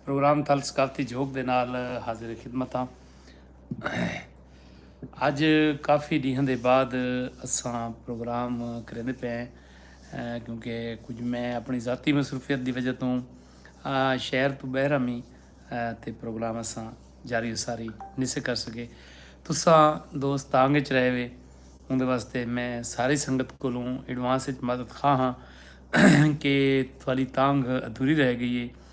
Programme Thal ثقافتی جھوک دے نال حاضر خدمت ہاں اج کافی ڈیہاں دے بعد اساں پروگرام کریندے پے ہیں کیونکہ کچھ میں اپنی ذاتی مصروفیت دی وجہ توں شہر تو بہر ہمی تے پروگرام اساں جاری و ساری نہیں سے کر سکے تساں دوست تانگ اچ رہے وے اون دے واسطے میں ساری سنگت کولوں ایڈوانس اچ مدد خواہ ہاں کہ تھوڑی تانگ ادھوری رہ گئی ہے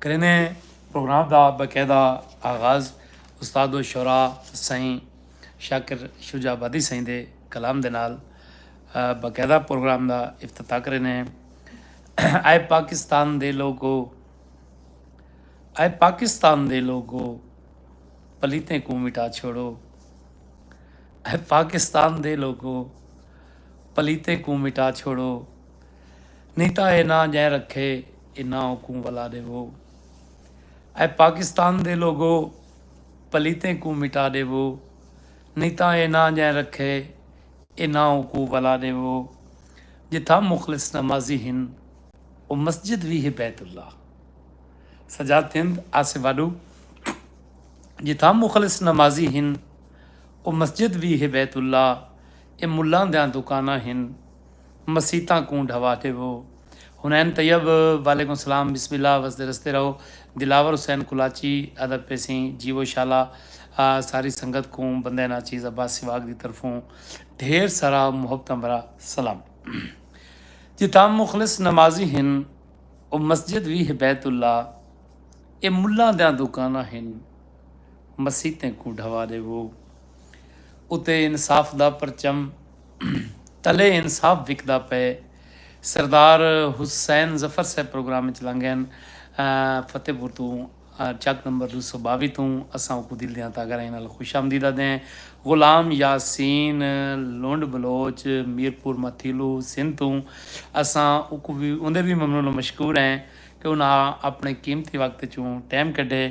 کریندیں پروگرام دا باقاعدہ آغاز استاد الشعراء سائیں شاکر شجاع آبادی سائیں دے کلام دے نال باقاعدہ پروگرام دا افتتاح کریندیں اے پاکستان دے لوگو اے پاکستان دے لوگو پلیتیں کوں مٹا چھوڑو اے پاکستان دے لوگو پلیتیں کوں مٹا چھوڑو نیتا اے نہ جائیں رکھے انہاں کوں ولا ڈیوو۔ اے پاکستان دے لوگو پلیتیں کوں مٹا ڈیوو نی تاں اے ناں جئیں رکھے انہاں کوں ولا ڈیوو۔ جتھاں مخلص نمازی ہن او مسجد وی ہے بیت اللہ سجاد تھند آسے واڈو جتھاں مخلص نمازی ہن او مسجد وی ہے بیت اللہ اے ملاں دیاں دکاناں ہن۔ مسیتاں کوں ڈھوا ڈیوو۔ حنین طیب، وعلیکم السلام بسم اللہ وسدے رسدے رہو دلاور حسین کلاچی، ادب پیسیں جیوو شالا ساری سنگت کوں بندے ناچیز عباس سواگ دی طرفوں ڈھیر سارا محبتاں بھرا سلام جتھاں مخلص نمازی ہن او مسجد وی ہے بیت اللہ اے ملاں دیاں دوکاناں ہن مسیتیں کوں ڈھوا ڈیوو اتے انصاف دا پرچم تلے انصاف وکدا پئے، سردار حسین ظفر صاحب پروگرام اچ لنگین فتح پور توں چک نمبر دو سو باوی توں اساں اوکوں دل دیاں تہ گہرائی نال خوش آمدید آدھیں، غلام یاسین لنڈ بلوچ میرپور متھیلو سندھ توں اساں اوکوں وی اوندے وی ممنون و مشکور ہیں کہ انہاں اپنڑے قیمتی وقت اچوں ٹیم کڈھے۔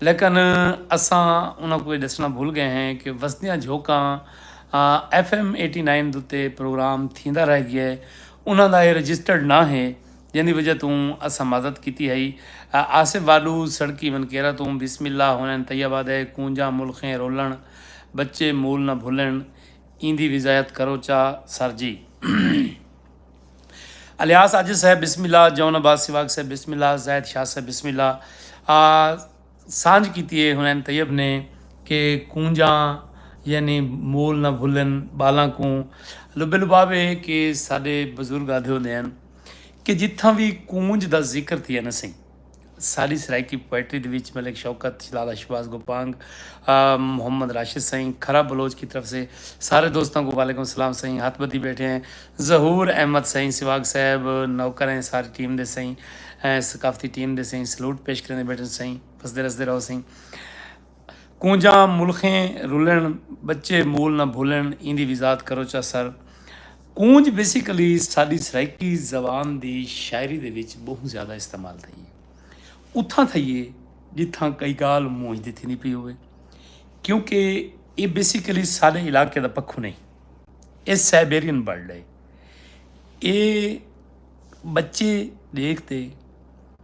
لیکن اساں انہاں کوں اے ڈسنڑاں بھل گئے ہیں کہ وسدیاں جھوکاں ایف ایم ایٹی نائن دتے پروگرام تھیندا رہ گئے انہاں دا اے رجسٹرڈ نہ ہے جیندی وجہ توں اساں مدد کیتی ہئی آصف واڈو سڑکی ونکیرا توں بسم اللہ ہونین طیبہ دے کونجاں ملخیں رولن بچے مول نہ بھلن ایندی وضاحت کرو چا سر جی۔ الیاس عاجز صاحب بسم اللہ جون عباس سواگ صاحب بسم اللہ زاہد شاہ صاحب بسم اللہ آ سانجھ کیتی ہے حنین طیب نے کہ کونجاں یعنی مول نہ بھلن بالاں کوں لبے لباب ہے کہ ساڈے بزرگ آدھے ہوندے ہیں کہ جتھاں وی کونج دا ذکر تھیا نہ سہی سالی سرائیکی پوئٹری دے وچ ملک شوکت، شلالہ شہباز گوپانگ، محمد راشد سئیں، کھرا بلوچ کی طرف سے سارے دوستاں کوں وعلیکم السلام سئیں، ہتھ بدھی بیٹھے ہیں ظہور احمد سئیں، سواگ صاحب، نوکر ہیں ساری ٹیم دے سئیں، ثقافتی ٹیم دے سئیں، سلوٹ پیش کریندے بیٹھن سئیں، وسدے رسدے رہو سئیں۔ کونجاں ملخیں رلن، بچے مول نہ بھلن ایندی وضاحت کروچا سر۔ کونج بیسیکلی ساڈی سرائیکی زبان دی شاعری دے وچ بہوں زیادہ استعمال تھئی ہے۔ اتھاں تھئی ہے جتھاں کئی گالھ مونجھ دی تھیندی پئی ہووے۔ کیونکہ ایہ بیسیکلی ساڈے علاقے دا پکھو نہیں۔ ایہ سائبیرین برڈ ہے۔ ایہ بچے ڈیکھ تے۔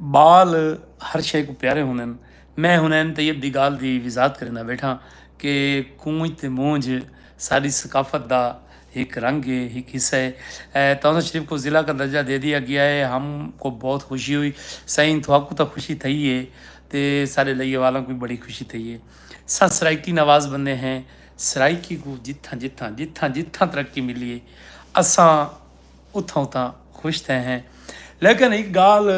ٻال ہر شئے کوں پیارے ہوندن۔ میں ہن این طیب دی گالھ دی وضاحت کریندا ٻیٹھاں کہ کونج تے مونج ساݙی ثقافت دا ہک رنگ ہے، ہک حصہ ہے۔ تہذا شریف کوں ضلع کا درجہ دے ݙیتا ڳیا ہے، ہم کو بہت خوشی ہوئی۔ سئیں تہاکوں تاں خوشی تھئی ہے تے ساݙے لئیے والاں کوں وی بڑی خوشی تھئی ہے۔ اساں سرائیکی نواز بندے ہیں، سرائیکی کوں جتھاں جتھاں جتھاں جتھاں ترقی ملی ہے اساں اتھاں اتھاں خوش تھئے ہیں لیکن ہک گالھ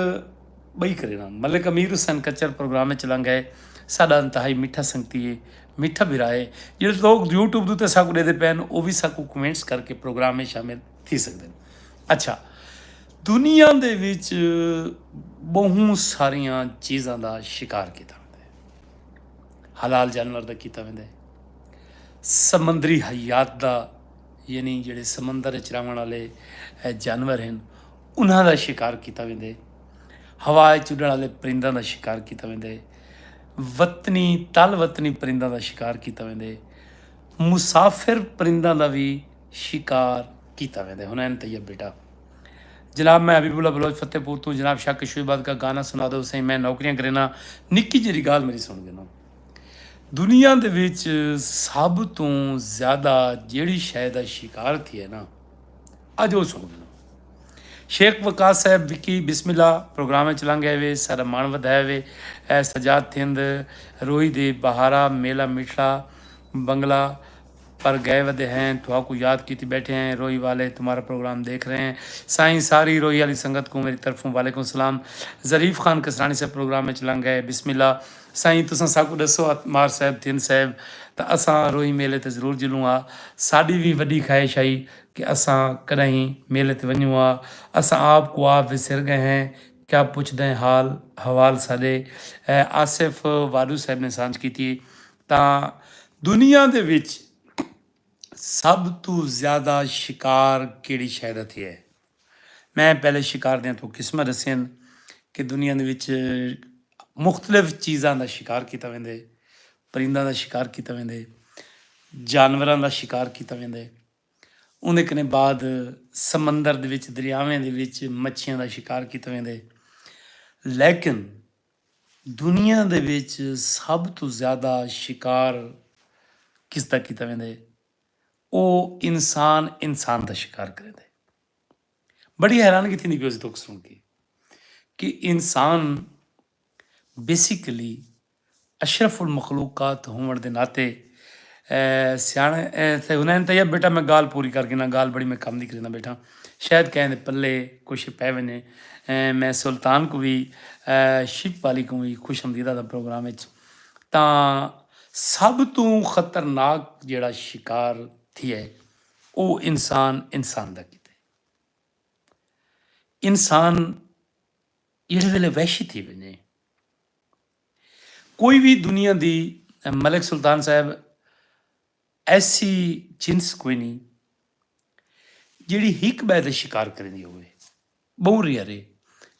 بئی کرینا ملک امیر حسین کچر پروگرام اچ لنگ ہے ساڈا انتہائی میٹھا سنگتی ہے میٹھا بھرا ہے جڑے لوگ یوٹیوب دوتے ساکو ڈے دے پین او وی ساکو کمنٹس کر کے پروگرام میں شامل تھی سکتے ہیں اچھا دنیا دے وچ بہوں ساریاں چیزاں دا شکار کیتا ویندے حلال جانور دا کیتا ویندے سمندری حیات دا یعنی جیڑھے سمندر اچ رہوݨ آلے جانور ہن انہاں دا شکار کیتا ویندے ہوا اچ اڈݨ آلے پرنداں دا شکار کیتا ویندے وطنی تل وطنی پرنداں دا شکار کیتا ویندے مسافر پرنداں دا وی شکار کیتا ویندے حنین طیب بیٹا جناب میں حبیب اللہ بلوچ فتح پور توں جناب شاہ کشوی باد کا گانا سنا دو سائیں میں نوکریاں کرینا نکی جی گال میری سن گے نا دنیا دے وچ سب توں زیادہ جیڑی شے دا شکار تھیے نا اج او سن گنو شیخ وقاص صاحب وکی بسم اللہ پروگرام وچ لنگ گئے وے سارا مان ودھایا وے اے سجاد تھند روہی دے بہارا میلا میٹھڑا بنگلہ پر گئے ودے ہیں تھواکوں یاد کیتی بیٹھے ہیں روہی والے تمہارا پروگرام دیکھ رہے ہیں سائیں ساری روہی آلی سنگت کوں میری طرفوں وعلیکم السلام ظریف خان کسرانی صاحب پروگرام اچ لنگ گئے بسم اللہ سائیں تساں ساکوں ڈسو عتمار صاحب تھن صاحب تاں اساں روہی میلے تے ضرور جلوں ہا ساڈی وی وڈی خواہش ہئی کہ اساں کڈاہیں میلے تے ونجوں ہا اساں آپ کوں آپ وسر گئے ہیں کیا پچھدیں حال حوال ساڈے آصف واڈو صاحب نے سانجھ کیتی تاں دنیا دے وچ سب توں زیادہ شکار کیڑھی شے دا تھیا ہے؟ میں پہلے شکار دیاں توں قسماں ڈسیاں کہ دنیا دے وچ مختلف چیزاں دا شکار کیتا ویندے پرنداں دا شکار کیتا ویندے جانوراں دا شکار کیتا ویندے اوں دے کنے بعد سمندر دے وچ دریاویں دے وچ مچھیاں دا شکار کیتا ویندے لیکن دنیا دے وچ سب توں زیادہ شکار کس دا کیتا ویندے او انسان انسان دا شکار کریندے بڑی حیرانگی تھیندی پی ہوسی توک سن کے کہ انسان بیسیکلی اشرف المخلوقات ہون دے ناطے سیاݨے تھے ہنین طیب بیٹا میں گال پوری کر گھناں گال بڑی میں کم دی کرینداں بیٹھاں شاید کہیں دے پلے کوئی شے پے ونجے میں سلطان کوں وی شیک پالی کوں وی خوش آمدید آکھداں پروگرام وچ تاں سب توں خطرناک جیڑھا شکار تھیے او انسان انسان دا کیتے انسان جیڑھے ویلے وحشی تھی ونجے کوئی وی دنیا دی ملک سلطان صاحب ایسی جنس کوئی نی جیڑھی ہک بئے دا شکار کریندی ہووے بہوں ریئر ہے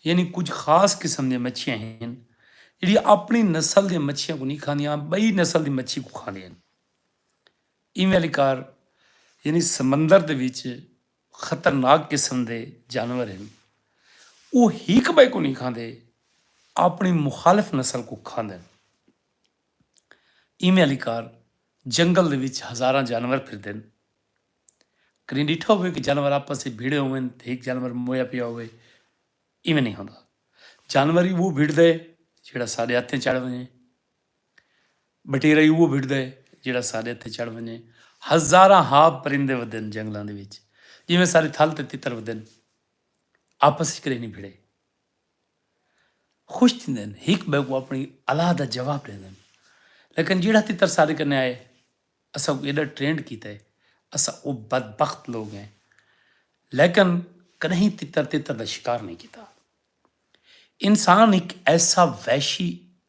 یعنی کجھ خاص قسم دیاں مچھیاں ہن جیڑھیاں اپنڑی نسل دیاں مچھیاں کوں نی کھاندیاں بئی نسل دی مچھی کوں کھاندیاں ہن ایویں آلی کار یعنی سمندر دے وچ خطرناک قسم دے جانور ہن۔ او ہک بئے کوں نی کھاندے آپنڑی مخالف نسل کوں کھاندن۔ ایویں آلی کار جنگل دے وچ ہزاراں جانور پھردن۔ کڈی ڈٹھا ہووے کہ جانور آپس اچ بھیڑے ہوون تے ہک جانور مویا پیا ہووے؟ ایویں نی ہوندا۔ جانور ای وہ بھیڑدے جیہڑا ساڈے ہتھیں چڑھ ونجے۔ بٹیرا ہی اوہو بھڑدا ہے جیہڑا ساڈے ہتھیں چڑھ ونجے۔ ہزاراں ہا پرندے ودن جنگلاں دے وچ جیویں سارے تھل تے تتر ودن۔ آپس وچ کدے نی بھڑے۔ خوش تھیندن۔ ہک بئے کوں اپنی الا دا جواب ڈیندن۔ لیکن جیہڑا تتر ساڈے کنے آئے اساں اوں ایڈا ٹرینڈ کیتا ہے۔ اساں او بدبخت لوگ ہیں۔ لیکن کدہیں تتر تتر دا شکار نی کیتا۔ انسان ہک ایسا وحشی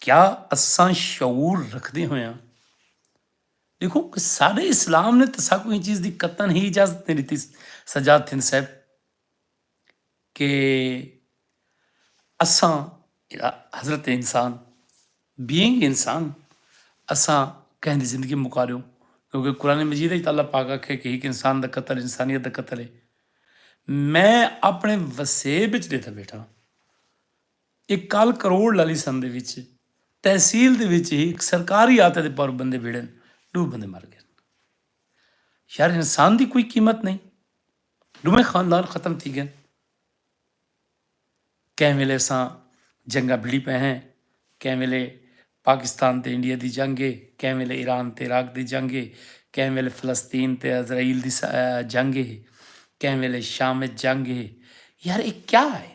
کیا اساں شعور رکھدے ہویاں دیکھو سارے اسلام نے تو ساکو ہی چیز دی قطن ہی اجازت نہیں دیتی سجاد تھن صاحب کہ اساں حضرت انسان بینگ انسان اساں کہیں دی زندگی مکا دیوں کیونکہ قرآن مجید ہے اللہ پاک آکھے کہ ایک انسان دا قتل انسانیت دا قتل ہے میں اپنے وسیب اچ دیتا بیٹھا اے کل کروڑ لالی سندھ دے وچ تحصیل دے وچ ہی ہک سرکاری آتے دے پر بندے بھیڑن ڈو بندے مر گئن یار انسان دی کوئی قیمت نہیں ڈوہیں خاندان ختم تھی گئن کہیں ویلے اساں جنگا بھیڑی پہ ہیں کہیں ویلے پاکستان تے انڈیا دی جنگ ہے کہیں ویلے ایران تے عراق دی جنگ ہے کہیں ویلے فلسطین تے اسرائیل دی جنگ ہے کہیں ویلے شام جنگ ہے یار اے کیا ہے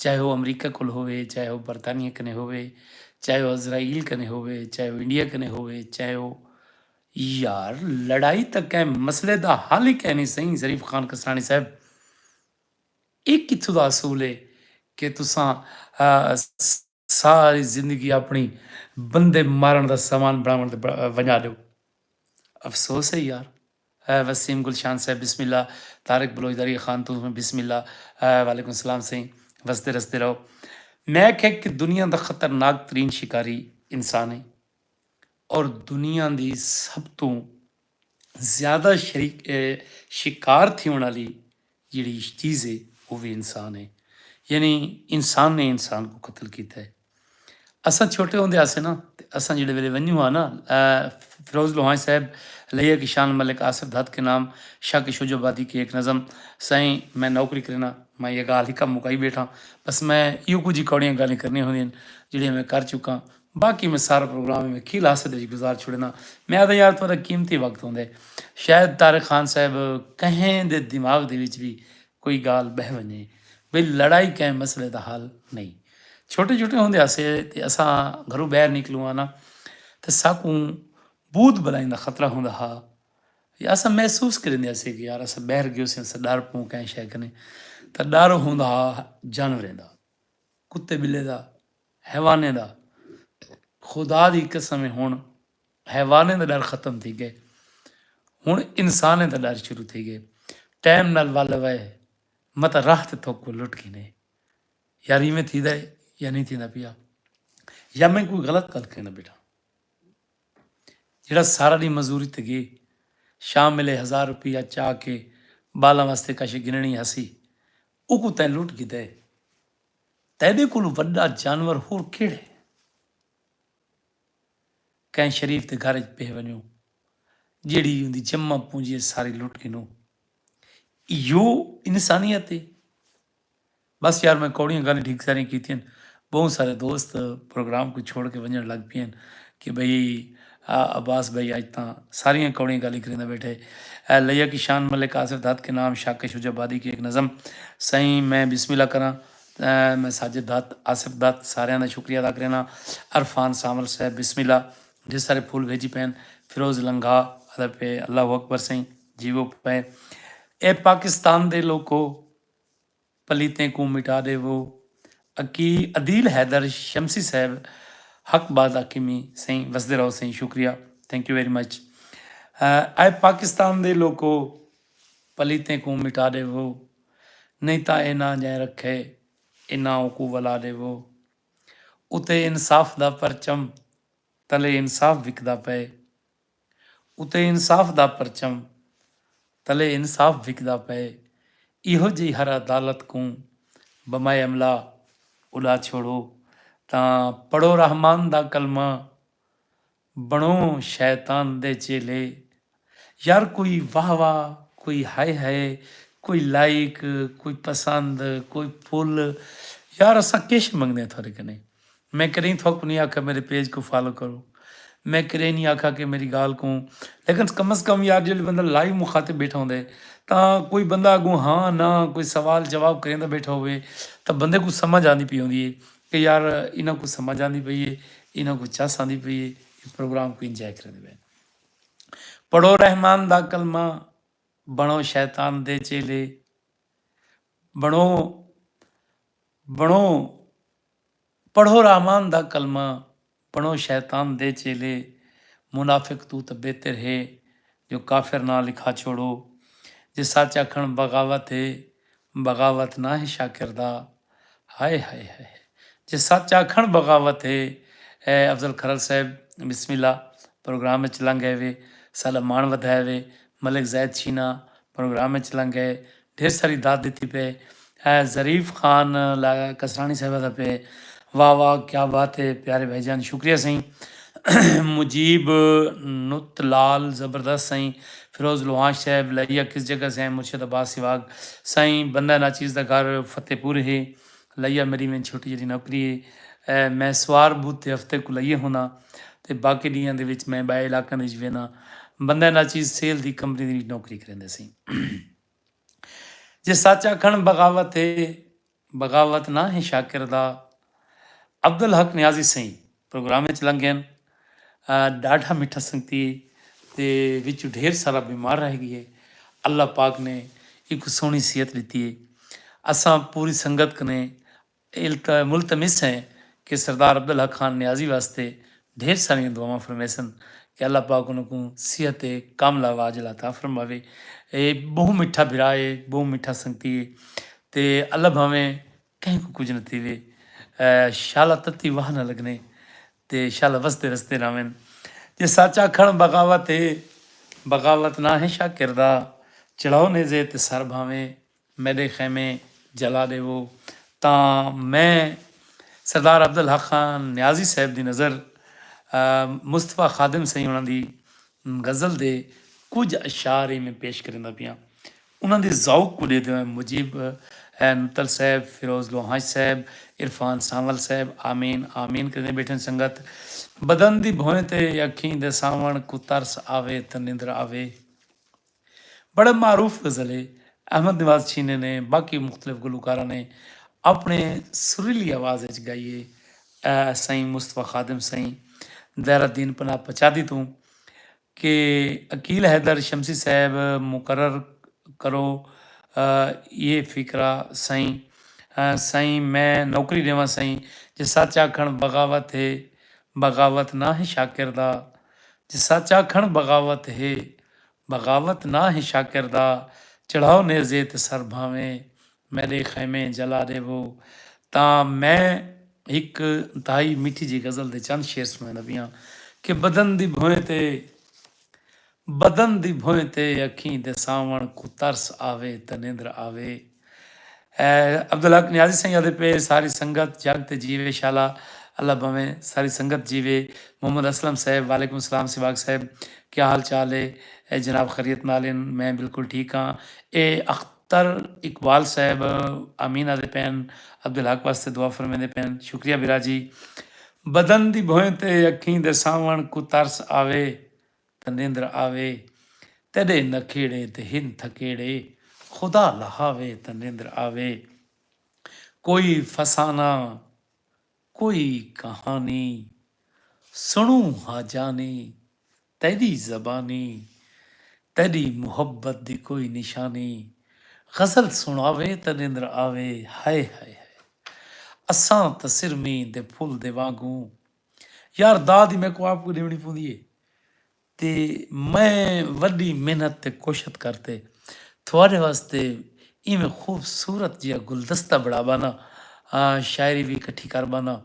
چاہے او امریکہ کول ہووے، چاہے او برطانیہ کنے ہووے، چاہے او اسرائیل کنے ہووے، چاہے او انڈیا کنے ہووے، چاہے او۔ یار لڑائی تاں کہیں مسئلے دا حل ہی کینی سئیں ظریف خان کسانی صاحب۔ اے کتھوں دا اصول ہے کہ تساں۔ ساری زندگی اپݨی بندے مارݨ دا سامان بݨاوݨ تے ونڄا ݙیو۔ افسوس ہے یار۔ اے وسیم گلشان صاحب بسم اللہ طارق بلوچ داریہ خان توں وی بسم اللہ وعلیکم السلام سئیں وسدے رسدے رہو میک ہک دنیا دا خطرناک ترین شکاری انسان ہیں اور دنیا دی سب توں زیادہ شکار تھیوݨ آلی جیڑھی چیز ہے او وی انسان ہے۔ یعنی انسان نے انسان کوں قتل کیتا ہے۔ اساں چھوٹے ہوندے ہاسے نا تے اساں جیڑھے ویلے ونجوں ہا نا فیروز لوہاݨی صاحب لئیے کہ شان ملک آصف دھت کے نام شاہ کے شجو آبادی کی ایک نظم سائیں میں نوکری کرینا میں یہ گالھ ہکا مکائی بیٹھاں بس میں ایہو کجھ ہی کوڑیاں گالھیں کرنی ہوندین جیڑھیاں میں کر چکاں۔ باقی میں سارا پروگرام ایویں کھیل ہاسے دے وچ گزار چھوڑینداں۔ میں آہداں یار تہاڈا قیمتی وقت ہوندے۔ شاید طارق خان صاحب کہیں دے دماغ دے وچ وی کوئی گالھ بہہ ونجے بھئی لڑائی کہیں مسئلے دا حل نئیں۔ چھوٹے چھوٹے ہوندے ہاسے تے اساں گھروں بہر نکلوں آں ناں تے ساکوں بھوت بلائیں دا خطرہ ہوندا ہا یا اساں محسوس کریندے ہاسے کہ یار اساں بہر گیوسے اساں ڈر پوں کہیں شے کنیں تاں ڈر ہوندا ہا جانوریں دا کتے بلے دا۔ حیوانیں دا خدا دی قسم ہے ہن حیوانیں دا ڈر ختم تھی گئے ہن انسانیں دا ڈر شروع تھی گئے ٹائم نال ول وے متا راہ تے تھوک کو لٹ گھنے یار ایویں تھی دے یا نہیں تھی دا پیا یا میں کوئی غلط گل کہنا بیٹھا جڑا سارا دی مزدوری تے گئے شام ملے ہزار روپیہ چا کے بالاں واسطے کاشے گننی ہسی او کو تے لٹ گدے تیݙے کولوں وݙا جانور ہور کیڑھے؟ کہیں شریف دے گھر اچ پئے ونڄوں جیڑھی اوندی جمع پونجی اے ساری لٹ گھنوں۔ ایہو انسانیت اے؟ بس یار میں کوڑیاں گالھیں ڈھیک ساریاں کیتیاں ہن۔ ٻہوں سارے دوست پروگرام کوں چھوڑ کے ونڄݨ لڳ پئے ہن کہ بھئی آ عباس بھئی اج تاں ساریاں کوڑیاں گالیں کریندا بیٹھے۔ اے لیا کی شان ملک آصف دھت کے نام شاکش ہو جا بادی کی ایک نظم سئیں میں بسم اللہ کراں میں ساجد دھت آصف دھت ساریاں دا شکریہ ادا کرینا عرفان سانول صاحب بسم اللہ ڈھیر سارے پھول بھیجی پین فیروز لنگھا ادا پے اللہ اکبر سئیں جیوو پے اے پاکستان دے لوکو۔ پلیتیں کوں مٹا ڈیوو۔ اکی عدیل حیدر شمسی صاحب حق بات آکھی می سئیں وسدے رہو سئیں شکریہ تھینک یو ویری مچ اے پاکستان دے لوکو پلیتیں کوں مٹا ڈیوو نئیں تاں اے ناں جئیں رکھے اے ناں اوکوں ولا ڈیوو اتے انصاف دا پرچم تلے انصاف وکدا پئے۔ اتے انصاف دا پرچم تلے انصاف وکدا پئے ایہو جئی ہر عدالت کوں بمائے املا اڈا چھوڑو تاں پڑھو رحمان دا کلمہ بنڑو شیطان دے چیلے یار کوئی واہ واہ کوئی ہائے ہائے کوئی لائیک کوئی پسند کوئی پھل یار اساں کش منگدے تھوڑے کنیں میں کدھیں تھوک نی آکھا میرے پیج کوں فالو کرو میں کدھیں نی آکھا کہ میری گال کوں لیکن کم از کم یار جیلے بندہ لائیو مخاطب بیٹھا ہوندا ہے تاں کوئی بندہ اگوں ہاں نہ کوئی سوال جواب کریندا بیٹھا ہووے تاں بندے کوں سمجھ آندی پئی ہوندی ہے کہ یار انہاں کوں سمجھ آندی پئی ہے انہاں کوں چس آندی پئی ہے اے پروگرام کوں انجوائے کریندے پئے پڑھو رحمان دا کلمہ بنو شیطان دے چیلے بنو بنو پڑھو رحمان دا کلمہ بنو شیطان دے چیلے منافق توں تاں بہتر ہے جو کافر ناں لکھا چھوڑو جے سچ آکھن بغاوت ہے بغاوت نہ ہے شاکر دا ہائے ہائے ہائے ہائے جے سچ آکھن بغاوت ہے اے افضل کھرل صاحب بسم اللہ پروگرام اچ لنگ گئے وے ساڈا مان ودھائے وے ملک زید شینا پروگرام اچ لنگ گئے ڈھیر ساری داد ڈتی پئے اے ظریف خان کسرانی صاحبہ دا پئے واہ واہ کیا بات اے پیارے بھائی جان شکریہ سائیں مجیب نت لال زبردست سائیں فیروز لوہانش صاحب لائیہ کس جگہ سے ہیں مرشد عباس سواگ سائیں بندہ ناچیز دا گھر فتح پور ہے لائیہ میری وین چھوٹی جیڑی نوکری ہے میں سوار بدھ تے ہفتے کو لائیہ ہونا تے باقی ڈیاں دے وچ میں بائے علاقہ دے وچ وینا بندہ ناچیز سیل دی کمپنی دے وچ نوکری کریندے سائیں۔ جے سچ آکھݨ بغاوت اے، بغاوت نہ ہیں شاکر دا عبدالحق نیازی سئیں پروگرام اچ لنگھن ݙاڈھا مٹھا سنگتی اے تے وچوں ڈھیر سارا بیمار رہ گی اے اللہ پاک نے ایکوں سوہݨی صحت ݙتی اے اساں پوری سنگت کنے التوے ملتمس ہیں کہ سردار عبدالحق خان نیازی واسطے ڈھیر ساریاں دعاواں فرمیسن کہ اللہ پاک انہاں کوں صحت کاملہ و عاجلہ عطا فرماوے۔ اے بہوں میٹھا بھرا اے بہوں میٹھا سنگتی اے تے اللہ بھاویں کہیں کوں کجھ نہ تھیوے شالا تتی واہ نہ لگنے تے شالا وسدے رسدے راہون۔ جے سچ آکھن بغاوت اے بغاوت نہ ہے شاکر دا چڑھاؤ نیزے تے سر بھاویں میݙے خیمے جلا ݙیوو تاں میں سردار عبدالحق خان نیازی صاحب دی نظر مصطفی خادم سئیں ہوݨاں دی غزل دے کجھ اشعار ایویں پیش کریندا پیاں۔ انہاں دے ذوق کوں ݙیہدے ہوئیں مجیب نتل صاحب، فیروز لوہانچ صاحب، عرفان سانول صاحب آمین آمین کریندے ٻیٹھن سنگت بدن دی بھوئیں تے اکھیں دے ساوݨ کوں ترس آوے تاں نندر آوے۔ بڑا معروف غزل ہے۔ احمد نواز چھینے نے باقی مختلف گلوکاراں نے اپنڑے سریلی آواز اچ گائی ہے۔ اے سائیں مصطفی خادم سائیں دہر الدین پناہ پچادھی توں کہ عقیل حیدر شمسی صاحب مقرر کرو ایہ فقرہ سائیں سائیں میں نوکری ڈیواں سائیں جے سچ آکھنڑ بغاوت ہے بغاوت نہ ہے شاکر دا جے سچ آکھنڑ بغاوت ہے۔ بغاوت نہ ہے شاکر دا چڑھاؤ نیزے تے سر بھانویں میݙے خیمے جلا ݙیوو تاں میں ہک انتہائی میٹھی جئی غزل دے چند شعر سݨاوݨ لڳیاں کہ بدن دی بھوئیں تے بدن دی بھوئیں تے اکھیں دے ساوݨ کوں ترس آوے تاں نیندر آوے۔ عبدالحق نیازی سائیں آدھے پئے ساری سنگت جگ تے جیوے شالا اللہ بھویں ساری سنگت جیوے محمد اسلم صاحب وعلیکم السلام سواگ صاحب کیا حال چال ہے اے جناب خریت نال ان میں بالکل ٹھیک ہاں اے اختر اقبال صاحب امین آدھے پین عبدالحق واسطے دعا فرمیندے پین شکریہ برا جی بدن دی بھویں تے اکھیں دے ساون کو ترس آوے تے نیندر آوے تیݙے نکھیڑے تے ہن تھکیڑے خدا لہاوے تے نیندر آوے کوئی فسانہ کوئی کہانی سݨوں ہا جانی تیݙی زبانی تیݙی محبت دی کوئی نشانی غزل سݨاوے تے نیندر آوے ہائے ہائے ہائے اساں تاں سرمیں دے پھل دے وانگوں یار دا دی میکوں آپ کو ڈیونی پوندی ہے تے میں وڈی محنت تے کوشت کر تے تھوڑے واسطے ایویں خوبصورت جیا گلدستہ بڑا بانا شاعری بھی اکٹھی کر بانا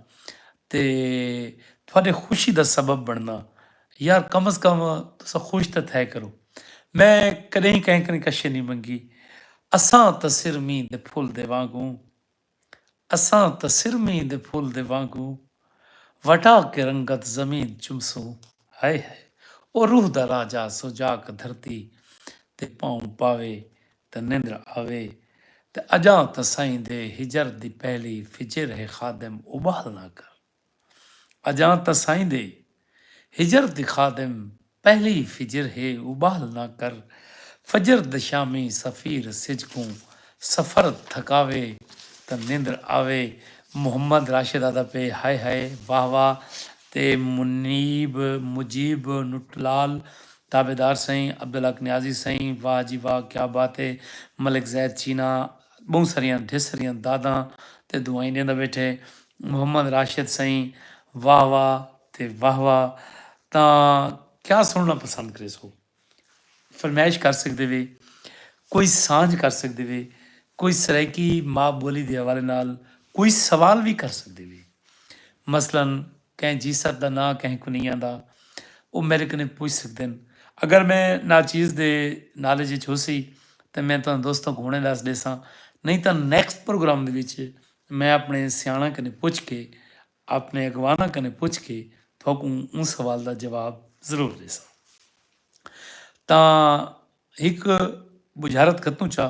تے تھوڑے خوشی دا سبب بننا یار کم از کم تسا خوش تے تھے کرو میں کدیں کہیں کہیں کشے نہیں منگی اساں تسر مین دے پھول دے وانگوں اساں تاں سر مینھ دے پھل دے وانگوں وٹا کے رنگت زمین چمسوں ہائے ہائے او روح دا راجہ سوجاک دھرتی تے پاؤں پاوے تاں نندر آوے تے اجاں تاں سائیں دے ہجر دی پہلی فجر ہے خادم ابھال نہ کر۔ اجاں تاں سائیں دے ہجر دی خادم پہلی فجر ہے ابال نہ کر فجر دشامی سفیر سج کوں سفر تھکاوے تاں نندر آوے محمد راشد آہدا پئے ہائے ہائے واہ واہ تے منیب مجیب نٹلال تابعدار سائیں عبدالحق نیازی سائیں واہ جی واہ کیا بات ہے ملک زید چینا ٻہوں سریاں ڈھیر سریاں داداں تے دعائیں ݙیندا ٻیٹھے محمد راشد سئیں واہ واہ تے واہ واہ تاں کیا سݨݨا پسند کریسو فرمائش کر سڳدے وے کوئی سانجھ کر سڳدے وے کوئی سرائیکی ماء ٻولی دے حوالے نال کوئی سوال وی کر سڳدے وے مثلا کہیں جیست دا ناں کہیں کنیاں دا او میڈے کنیں پچھ سکدن اگر میں ناچیز دے نالج اچ ہوسی تاں میں تہاڈے دوستاں کوں ہنڑیں ڈس ڈیساں نہیں تاں نیکسٹ پروگرام دے وچ میں اپنے سیانڑاں کنیں پچھ کے اپنے اگواناں کنیں پچھ کے تہاکوں اوں سوال دا جواب ضرور ڈیساں تاں ہک بجھارت کتوں چا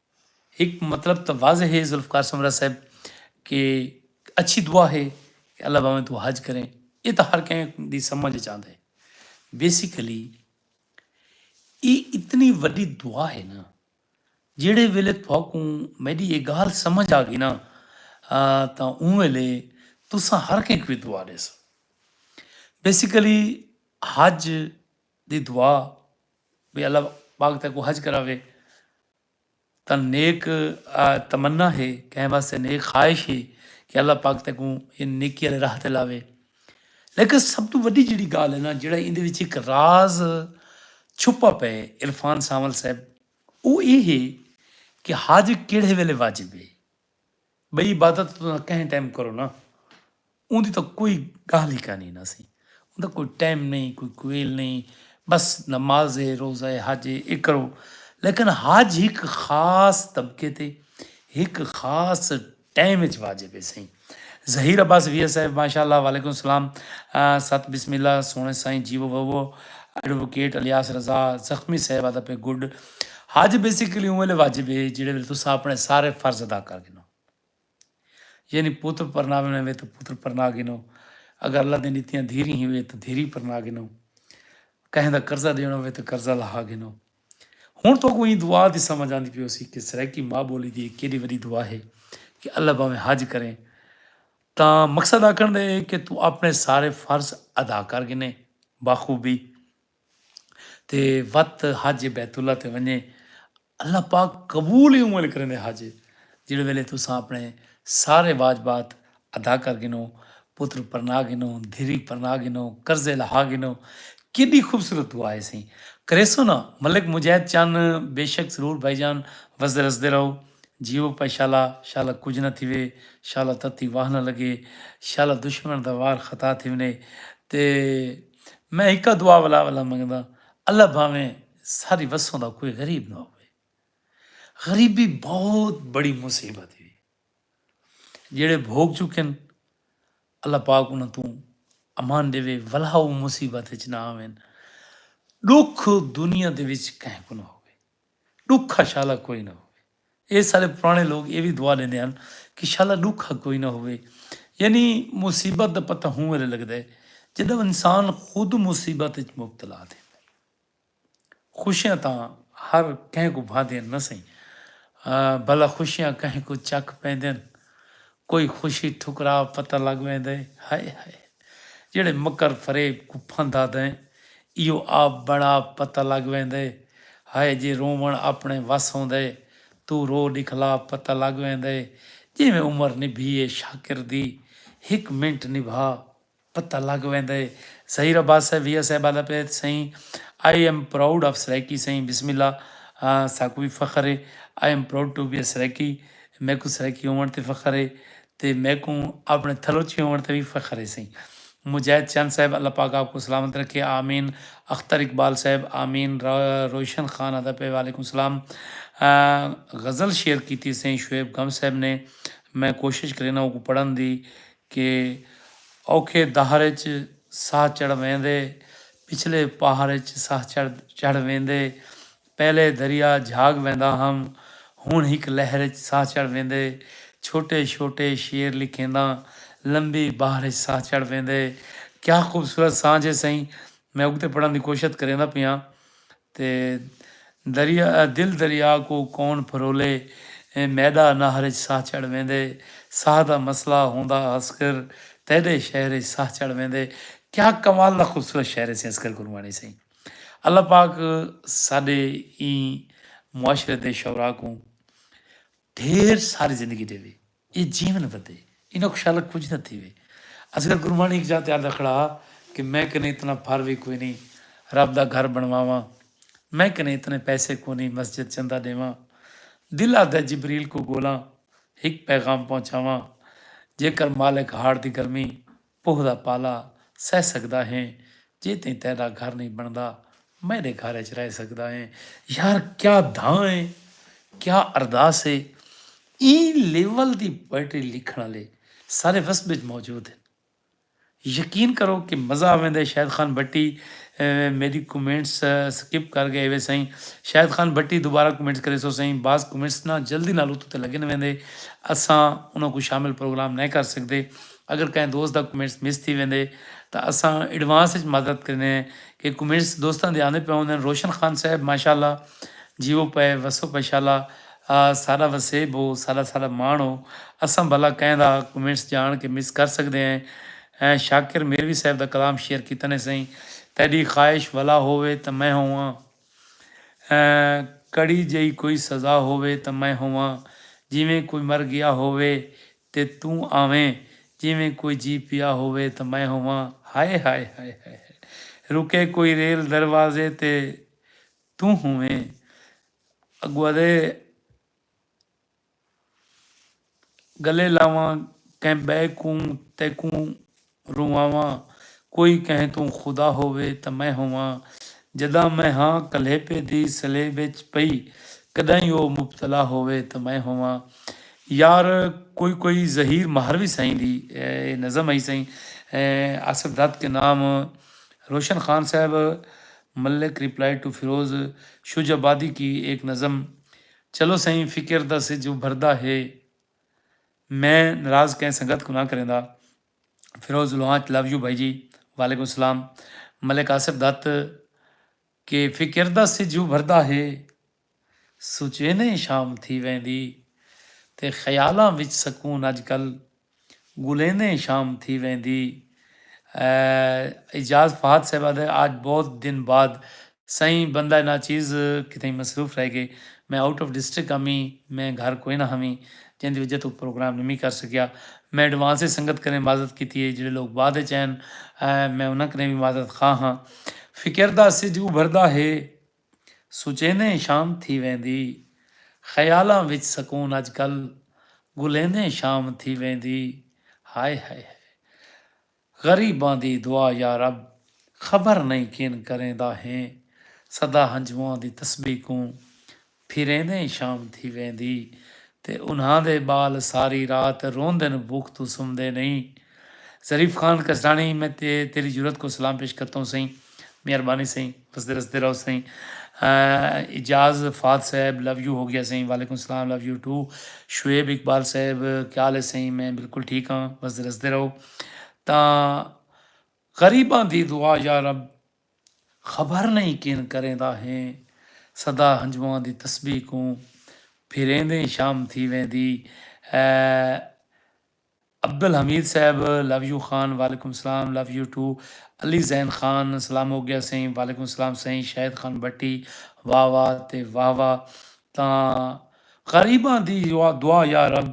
ہک مطلب تاں واضح ہے ذوالفقار سمرا صاحب کہ اچھی دعا ہے کہ اللہ باویں تو حج کریں یہ تاں ہر کہیں دی سمجھ اچ آندا ہے بیسیکلی اے اتنی وڈی دعا ہے نا جیڑھے ویلے تہاکوں میڈی اے گالھ سمجھ آ گئی نا تاں اوں ویلے تساں ہر کہیں کوں اے دعا ڈیسو بیسیکلی حج دی دعا بھئی اللہ پاک تیکوں حج کراوے تاں نیک تمنا ہے کہیں واسطے نیک خواہش ہے کہ اللہ پاک تیکوں ان نیکی والے راہ تے لاوے لیکن سب تو وڈی جڑی گال ہے نا جڑا ان دے وچ ایک راز چھپا پے عرفان سانول صاحب وہ یہ ہے کہ حج کیڑے ویلے واجب ہے بئی عبادت تساں کہیں ٹائم کرو نا اوندی تاں کوئی گالھ ہی کانی نا سی اوندا کوئی ٹائم نہیں کوئی کویل نہیں بس نماز ہے روزہ ہے حج ہے اے کرو لیکن حج ہک خاص طبقے تے ہک خاص ٹائم وچ واجب ہے سائیں Zaheer Abbas V S A ماشاءاللہ وعلیکم السلام ست بسم اللہ سونے سائیں جیو بھو ایڈووکیٹ الیاس رضا زخمی صاحب آتا پہ گڈ حج بیسیکلی اوں ویلے واجب ہے جیڑھے ویلے تساں اپنے سارے فرض ادا کر گھنو یعنی پتر پرناوے میں وے تو پتر پرنا گھنو اگر اللہ دین اتیاں دھیری ہی وے تو دھیری پرنا گھنو کہیں دا قرضہ دینا وے تو قرضہ لہا گھنو ہن تو کوئی دعا دی سمجھ آندی پیو سی کہ سرائیکی ماں بولی دی ایک کیڑی وڈی دعا ہے کہ اللہ باویں حج کریں تا مقصد آکھن دے کہ تو اپنے سارے فرض ادا کر گھنے باخوبی تے وت حج بیت اللہ تے ونجے اللہ پاک قبول ہی اونویلے کریندے حج جیڑھے ویلے تساں اپنے سارے واجبات ادا کر گھنو پتر پرنا گھنو دھری پرنا گھنو قرضے لہا گھنو کیڈی خوبصورت دعا ہے سئیں کریسو نا ملک مجاہد چن بیشک ضرور بھائی جان وسدے رسدے رہو جیو پئے شالا شالا کجھ نہ تھیوے شالا تتی واہ نہ لگے شالا دشمن دا وار خطا تھیونے تے میں ہکا دعا ولا ولا منگداں اللہ بھاویں ساری وسوں دا کوئی غریب نہ ہووے غریبی بہت بڑی مصیبت ہے جیڑے بھوگ چکن اللہ پاک انہاں توں امان دیوے ولا او مصیبت وچ نہ آویں ڈکھ دنیا دے وچ کہیں کو نہ ہو ݙکھا شالا کوئی نہ ہووے۔ اے سارے پراݨے لوک اے وی دعا ݙیندے ہن کہ شالا ݙکھا کوئی نہ ہووے۔ یعنی مصیبت دا پتہ ہوں ویلے لڳدے جݙاں انسان خود مصیبت اچ مبتلا تھیندے۔ خوشیاں تاں ہر کہیں کوں بھاندیاں نہ سئیں بھلا خوشیاں کہیں کوں چک پیندن۔ کوئی خوشی ٹھکرا پتہ لڳ ویندے ہائے ہائے۔ جیڑھے مکر فریب کوں پھندا دیں ایہو آپ بڑاپ پتہ لگ ویندے ہائے جے رووݨ آپݨے وس ہوندے توں رو ݙکھلاپ پتہ لگ ویندے جیویں عمر نبھی اے شاکر دی ہک منٹ نبھا پتہ لگ ویندے ظہیر عباس صاحب وی اسے بعد اپیت سئیں I am proud of Saraiki سئیں بسم اللہ ساکوں وی فخر اے I am proud to be a Saraiki میکوں سرائیکی ہووݨ تے فخر اے تے میکوں اپݨے تھلوچی ہووݨ تے وی فخر ہے سئیں مجاہد چند صاحب اللہ پاک آپ کوں سلامت رکھے آمین اختر اقبال صاحب آمین روشن خان ادا پہ وعلیکم السلام غزل شیئر کیتی سئیں شعیب گم صاحب نے میں کوشش کرینا اوکوں پڑھن دی کہ اوکھے دہر اچ ساہ چڑھ ویندے پچھلے پہاڑ اچ ساہ چڑھ ویندے پہلے دریا جھاگ ویندا ہم ہن ہک لہر اچ ساہ چڑھ ویندے چھوٹے چھوٹے شعر لکھینداں لمبی بحر اچ ساہ چڑھ ویندے کیا خوبصورت سانجھ ہے سئیں میں اگتے پڑھن دی کوشت کریندا پیاں تے دریا دل دریا کو کون پھرولے میڈا نہر اچ ساہ چڑھ ویندے ساہ دا مسئلہ ہوندا اصغر تیڈے شہر اچ ساہ چڑھ ویندے کیا کمال دا خوبصورت شعر ہے سئیں اصغر گرواݨی سئیں۔ اللہ پاک ساڈے ایں معاشرے دے شعراء کوں ڈھیر ساری زندگی ڈیوے اے جیون ودے انہاں کوں شالا کجھ نہ تھیوے اصغر گرمانی ہک جاہ تے آندا کھڑا ہا کہ میں کنے اتنا پھر وی کوئی نی رب دا گھر بنواواں میں کنے اتنے پیسے کونی مسجد چندہ ڈیواں دل آدھے جبریل کوں گولاں ہک پیغام پہنچاواں جیکر مالک ہاڑ دی گرمی پوہ دا پالا سہہ سگدا ہیں جے تئیں تیڈا گھر نئیں بنڑدا میڈے گھر اچ رہ سگدا ہیں یار کیا دھاں اے کیا ارداس اے ایں لیول دی پوئٹری لکھنڑ آلے سارے وسب اچ موجود ہن یقین کرو کہ مزہ آویندے اے شاہد خان بھٹی میڈی کمنٹس سکپ کر گئے وے سئیں شاہد خان بھٹی دوبارہ کمنٹس کریسو سئیں بعض کمنٹس نا جلدی نال اتو تے لگن ویندے اساں انہاں کوں شامل پروگرام نئیں کر سگدے اگر کہیں دوست دا کمنٹس مس تھی ویندے تاں اساں ایڈوانس اچ معذرت کریندے ہیں کہ کمنٹس دوستاں دے آندے پئے ہوندن روشن خان صاحب ماشاءاللہ جیوو پئے وسو پئے شالا ساڈا وسیب ہو ساڈا ساڈا ماݨ ہو اساں بھلا کہیں دا کمنٹس جاݨ کے مس کر سکدے ہیں شاکر میروی صاحب دا کلام شیئر کیتا نے سئیں تیڈی خواہش ولا ہووے تاں میں ہوواں کڑی جئی کوئی سزا ہووے تاں میں ہوواں جیویں کوئی مر گیا ہووے تے توں آویں جیویں کوئی جی پیا ہووے تاں میں ہوواں ہائے ہائے ہائے ہائے ہائے رکے کوئی ریل دروازے تے توں ہوویں اگوادے گلے لاواں کہیں ٻئے کوں تیکوں رواواں کوئی کہیں توں خدا ہووے تاں میں ہوواں جݙاں میں ہاں کلیپے دی سلیب اچ پئی کݙاہیں او مبتلا ہووے تاں میں ہوواں یار کوئی کوئی ظہیر مہروی سئیں دی اے نظم ہئی سئیں آصف دھت کے نام روشن خان صاحب ملک ریپلائی ٹو فیروز شجہ آبادی کی ایک نظم چلو سئیں فکر دا سجھ ابھردا ہے میں ناراض کہیں سنگت کوں نہ کریندا۔ فیروز لوہانچ لو یو بھائی جی وعلیکم السلام ملک آصف دت کہ فکر دا سجھ ابھردا ہے سوچینے شام تھی ویندی تے خیالاں وچ سکون اج کل گلیندیں شام تھی ویندی اے۔ اعجاز فہد صاحب آدھے آج بہت دن بعد سئیں بندہ ناچیز کتھائیں مصروف رہ گئے میں آؤٹ آف ڈسٹرکٹ ہمی میں گھر کوئ نہ ہمی جیں دی وجہ توں پروگرام نمی کر سکیا میں ایڈوانس اچ سنگت کنیں معذرت کیتی اے جیڑھے لوک بعد اچ آئن میں انہاں کنیں وی معذرت خواہ ہاں فکر دا سجھ ابھردا ہے۔ سوچیندیں شام تھی ویندی خیالاں وچ سکون اج کل گھلیندیں شام تھی ویندی ہائے ہائے ہائے غریباں دی دعا یا رب خبر نئیں کین کریندا ہیں سدا ہنجواں دی تسبیح کوں پھریندیں شام تھی ویندی تے انہاں دے ٻال ساری رات روندن بھوک توں سمدے نئیں۔ ظریف خان کسڑاݨی میں تے تیݙی جرات کوں سلام پیش کرتا ہوں سئیں مہربانی سئیں وسدے رسدے رہو سئیں اعجاز فہد صاحب لو یو ہو گیا سئیں وعلیکم السلام love you too Shoaib Iqbal sahib کیا حال ہے سئیں میں بالکل ٹھیک ہاں وسدے رسدے رہو تاں غریباں دی دعا یا رب خبر نہیں کین کریندا ہیں سدا ہنجواں دی تسبیح کوں پھریندیں شام تھی ویندی اے عبدالحمید صاحب لو یو خان وعلیکم السلام love you too Ali Zain Khan سلام ہوگیا سئیں وعلیکم السلام سئیں شاہد خان بھٹی واہ واہ تے واہ واہ تاں غریباں دی دعا یارب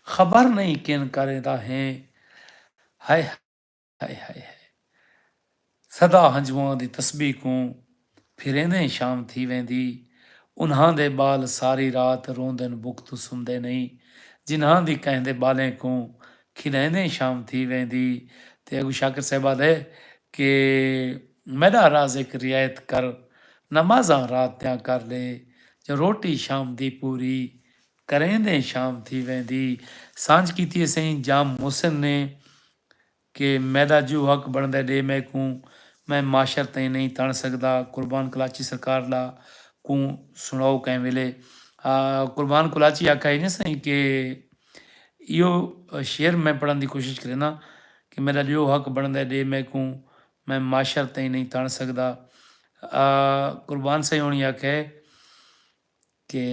خبر نئیں کن کریندا ہیں ہائے ہائے ہائے ہائے سدا ہنجواں دی تسبیح کوں پھریندیں شام تھی ویندی انہاں دے ٻال ساری رات روندن بکھ توں سمدے نئیں جنہاں دی کہیں دے ٻالیں کوں کھݙائیندیں شام تھی ویندی تے اڳوں شاکر صاحب آہدے کہ میݙا رازق رعایت کر نمازاں رات دیاں کر ݙے جو روٹی شام دی پوری کریندیں شام تھی ویندی سانجھ کیتی اسیں جام محسن نے کہ میڈا جو حق بنڑدے ڈے میکوں میں معاشر تئیں نئیں تنڑ سگدا قربان کلاچی سرکار لا کوں سنڑاؤ کہیں ویلے قربان کلاچی آکھا ایجھے سئیں کہ ایہو شعر میں پڑھن دی کوشش کرینداں کہ میڈا جو حق بنڑدے ڈے میکوں میں معاشر تئیں نئیں تنڑ سگدا قربان سئیں ہونی آکھے کہ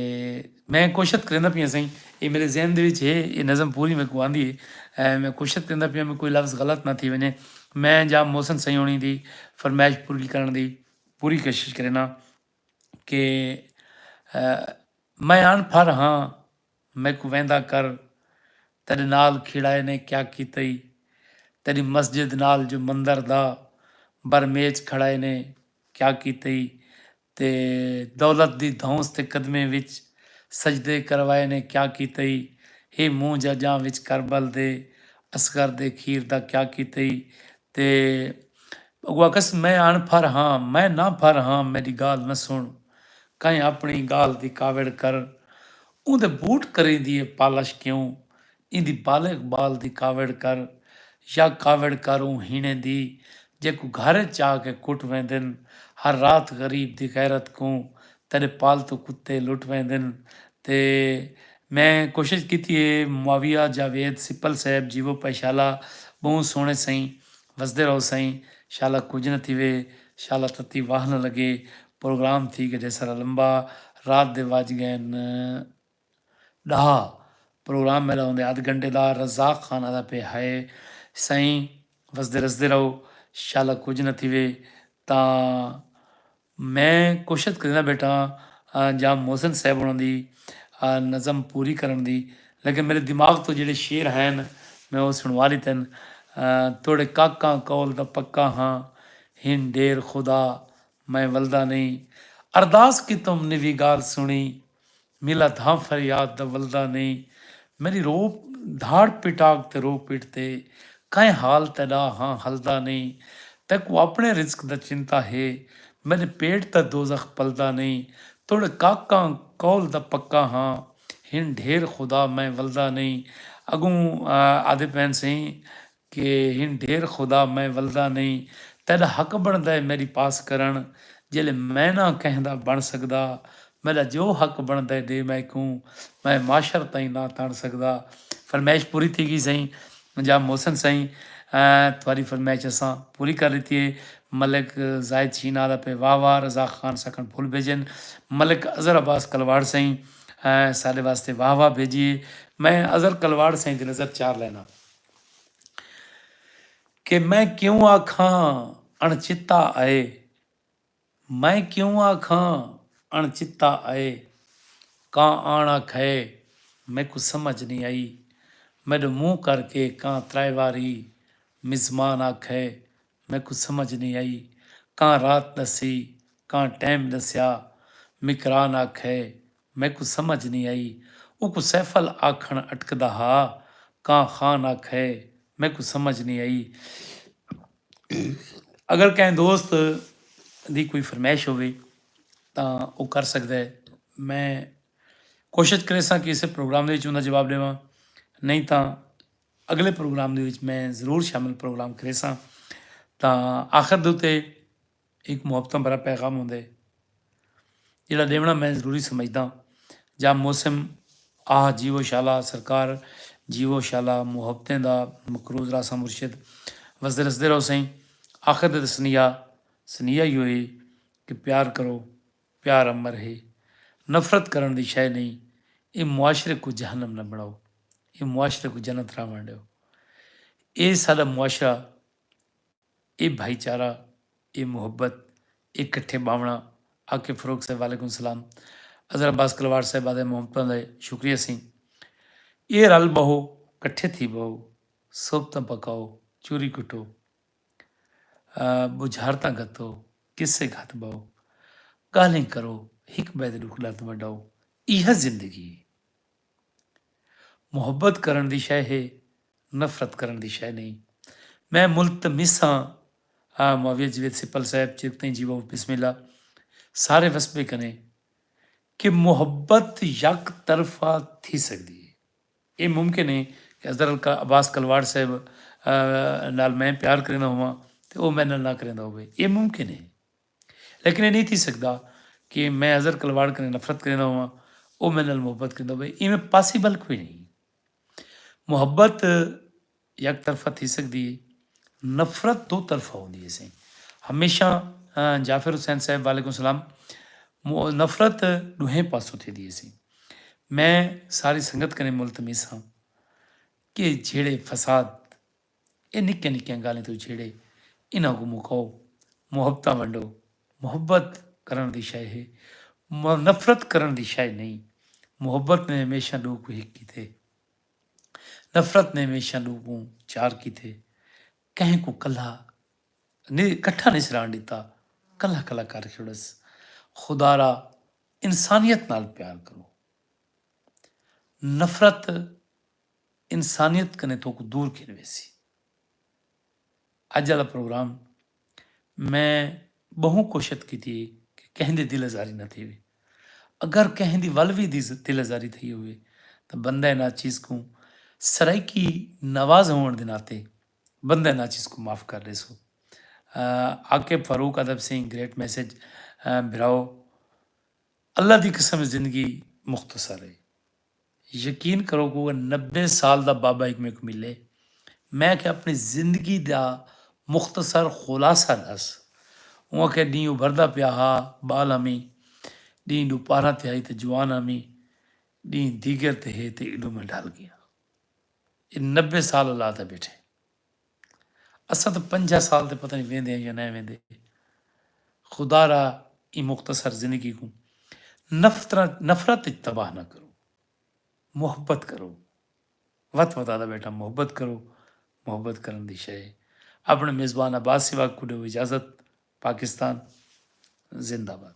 میں کوشت کریندا پیاں سائیں اے میرے ذہن دے وچ ہے اے نظم پوری میں کو آندی ہے میں کوشت کریندا پیاں میں کوئی لفظ غلط نہ تھی ونجے میں جا محسن سائیں ہونی دی فرمائش پوری کرن دی پوری کوشش کرینا کہ میں ان پھر ہاں میں کو ویندا کر تیرے نال کھڑائے نے کیا کیتا ہی تیری مسجد نال جو مندر دا بر میچ کھڑائے نے کیا کیتا ہی تے دولت دی دھونس تے قدمیں وچ سجدے کروائے نے کیا کیتئی ہی منہ جا جاں وچ کربل دے اصغر دے کھیر دا کیا کیتئی تے اگوں آکھس میں اݨ پھر ہاں میں نہ پھر ہاں میݙی ڳالھ نہ سݨ کہیں اپݨی ڳالھ دی کاوڑ کر اوندے بوٹ کریندی اے پالش کیوں ایندی بالغ بال دی کاوڑ کر یا کاوڑ کر اوں ہیݨیں دی جیکوں گھر اچ چا کے کٹ ویندن ہر رات غریب دی غیرت کوں تیݙے پالتو کتے لٹ ویندن تے میں کوشش کیتی ہے معاویہ جاوید سپل صاحب جیوو پے شالا ٻہوں سوہݨے سئیں وسدے رہو سئیں شالا کجھ نہ تھیوے شالا تتی واہ نہ لگے پروگرام تھی گڈھے سارا لمبا رات دے وج ڳئن ڈاہا پروگرام میڈا ہوندے ادھ گھنٹے دا رزاق خان آدھا پے ہائے سائیں وسدے رسدے رہو شالا کجھ نہ تھیوے تاں میں کوشت کریندہ بیٹھا ہاں جا محسن صاحب ہونا دی نظم پوری کرن دی لیکن میڈے دماغ تو جیڑے شعر ہین میں او سنوا لیتن توڑے کاکاں قول دا پکا ہاں ہن ڈیر خدا میں ولدا نہیں ارداس کیتم نویگار سنی میلا دھاں فریاد دا ولدا نیں میݙی رو دھاڑ پٹاک تے رو پٹ تے کائیں حال تیݙا ہاں ہلدا نیں تیکوں اپݨے رزق دا چنتا ہے میݙے پیٹ دا دوزخ پلدا نیں توݙے کاکاں قول دا پکا ہاں ہن ڈھیر خدا میں ولدا نیں اڳوں آہدے پئین سئیں کہ ہن ڈھیر خدا میں ولدا نئیں تیڈا حق بنڑدا ہے میڈی پاس کرنڑ جیلے میں نہ کہیں دا بنڑ سگدا میڈا جو حق بنڑدا ہے ڈے میکوں میں معاشر تائیں نہ تنڑ سگدا فرمیش پوری تھی گئی سائیں جا محسن سائیں تھواری فرمیش اساں پوری کر لیتی ہے ملک زاہد شینا دا پہ واہ واہ رضا خان سکھن پھول بھیجن ملک اظہر عباس کلواڑ سائیں ساڈے واسطے واہ واہ بھیجیے میں اظہر کلواڑ سائیں دی نظر چار لینا۔ کہ میں کیوں آکھاں اݨچتا اے میں کیوں آکھاں اݨچتا اے کاں آݨ آکھئے میکوں سمجھ نی آئی میݙو منہ کر کے کاں ترائے واری مزمان آکھئے میکوں سمجھ نی آئی کاں رات ݙسی کاں ٹیم ݙسیا مکران آکھئے میکوں سمجھ نی آئی۔ اوکوں سیفل آکھݨ اٹکدا ہا۔ کاں خان آکھئے، میکوں سمجھ نی آئی۔ اگر کہیں دوست دی کوئی فرمائش ہووے تاں او کر سڳدا ہے۔ میں کوشش کریساں کہ اسے پروگرام دے وچ اوندا جواب ݙیواں۔ نئیں تاں اڳلے پروگرام دے وچ میں ضرور شامل پروگرام کریساں۔ تاں آخر دے اتے ہک محبتاں بھرا پیغام ہوندے ہے جیڑھا ڈیونڑاں میں ضروری سمجھداں جا موسم آہ جیوو شالا سرکار جیوو شالا محبتیں دا مقروض رہساں مرشد وسدے رسدے رہو سئیں آخر تے تے سنیہا سنیہا ایہو ہے کہ پیار کرو پیار امر ہے نفرت کرنڑ دی شے نئیں ایں معاشرے کوں جہنم نہ بنڑاؤ ایں معاشرے کوں جنت رہونڑ ڈیو اے ساڈا معاشرہ اے بھائی چارہ اے محبت اے کٹھے باونڑاں آکے فروغ صاحب وعلیکم السلام عذرا عباس کلواڑ صاحب آدے محبتاں دے شکریہ سیں اے رل بہو کٹھے تھی بہو صحبتاں پکاؤ چوری کٹو بجھارتاں گھتو قصے گھت بہو گالھیں کرو ہک بئے دے ڈکھ درد ونڈاؤ ایہا زندگی ہے محبت کرݨ دی شئے ہے نفرت کرݨ دی شئے نئیں میں ملتمس ہاں آ معاویہ جیوید سپل صاحب چر تئیں جیوؤ بسم اللہ سارے وسبے کنے کہ محبت یک طرفہ تھی سکدی ہے اے ممکن ہے کہ اظہر عباس کلواڑ صاحب نال میں پیار کریندہ ہوواں تے او میڈے نال نہ کریندہ ہووے اے ممکن ہے۔ لیکن اے نئیں تھی سگدا کہ میں اظہر کلواڑ کنیں نفرت کریندا ہوواں او میڈے نال محبت کریندا ہووے ایویں پاسیبل کوئی نئیں محبت یک طرفہ تھی سگدی ہے نفرت دو طرفہ ہوندی ہے سائیں ہمیشہ جعفر حسین صاحب وعلیکم السلام نفرت ڈوہیں پاسوں تھی دی سی میں ساری سنگت کریں ملتمیس ہاں کہ جھیڑے فساد اے نکیاں نکیاں گالھیں توں جھیڑے انہاں کوں مکاؤ۔ محبتاں ونڈو۔ محبت کرݨ دی شئے ہے۔ نفرت کرݨ دی شئے نئیں۔ محبت نے ہمیشاں ݙو کوں ہک کیتے۔ نفرت نے ہمیشاں ݙو کوں چار کیتے۔ کہیں کوں کلھا کٹھا نئیں سی رہݨ ݙتا۔ کلھا کلھا کر چھوڑس۔ خدارا انسانیت نال پیار کرو۔ نفرت انسانیت کنیں تہاکوں دور گھن ویسی۔ اج آلا پروگرام میں بہوں کوشت کیتی ہے کہ کہیں دی دل ازاری نہ تھیوے۔ اگر کہیں دی ول وی دی دل ازاری تھئی ہووے تاں بندہ ناچیز کوں سرائیکی نواز ہووݨ دے ناطے بندہ ناچیز کوں معاف کر ݙیسو۔ عاقب فاروق ادب سئیں گریٹ میسج بھراو اللہ دی قسم زندگی مختصر ہے۔ یقین کرو کوئ نبے سال دا بابا ہک میکوں ملے میں آکھیا اپݨی زندگی دا مختصر خلاصہ ݙس اوں آکھیا ݙینہہ ابھردا پیا ہا ٻال ہمیں ݙینہہ ݙو پارھاں تے ہئی تے جوان ہمیں ݙینہہ دیگر تے ہے تے ایݙوں میں ڈھل ڳیاں اے نبے سال اللہ تے ٻیٹھے اساں تاں پنجاہ سال تے پتہ نئیں ویندے ہن یا نئیں ویندے۔ خدا را ایں مختصر زندگی کوں نفرت اچ تباہ نہ کرو۔ محبت کرو۔ وت وت آدھا بیٹا محبت کرو۔ محبت کرݨ دی شئے ہے۔ اپݨے میزبان عباس سواڳ کوں ݙیو اجازت۔ پاکستان زندہ باد۔